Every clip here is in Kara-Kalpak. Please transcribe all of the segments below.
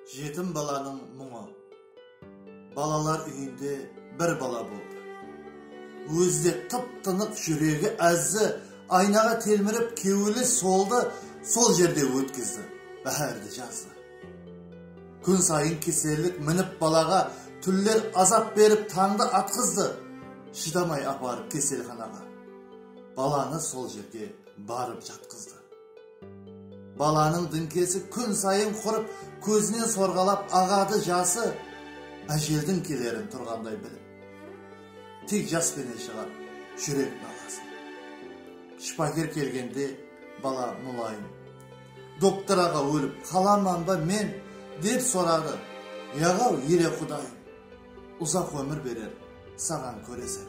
Jetim balanıń muńı. Balalar úyinde bir bala boldı. Ózi de tıp-tınıq júregi ázzi aynaǵa telmirip kewili soldı sol jerde ótkizdi báhárdi jazdı. Kún sayın kesellik minip balaǵa túnler azap berip tańdı atqızdı shıdamay aparıp keselxanaǵa balanı sol jerge barıp jatqızdı. Balanıń dińkesi kún sayın qurıp, kózinen sorǵalap aǵadı jası, ájeldiń kelerin turǵanday bilip. Tek jas penen shıǵar júrek nalasın. Shıpaker kelgende bala mulayım, Doktor aǵa ólip qalaman ba men? dep soradı. Yaǵaw, ele Qudayım, uzaq ómir berer saǵan kóresen.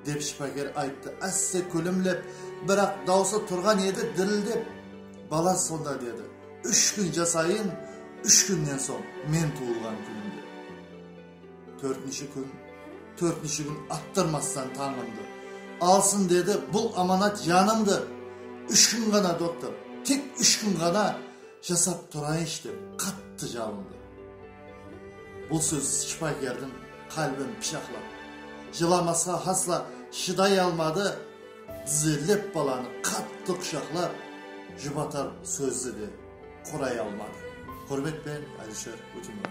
Dep shıpaker ayttı ásse kúlimlep, biraq dawısı turǵan edi dirildep. Bala sonda dedi, Úsh kún jasayın, úsh kúnnen soń, men tuwılǵan kúnimde. Tórtinshi kún, tórtinshi kún attırmastan tańımdı. Alsın dedi bul amanat janımdı. Úsh kún ǵana, doktor, tek úsh kún ǵana jasap turayınshı dep, qattı jalındı. Bul sóz shıpakerdiń qálbin pıshaqlap, jılamasqa hasla shıday almadı, dizerlep balanı qattı qushaqlap, jubatar sózdi de quray almadı. Húrmet penen, Alisher Utimiratov.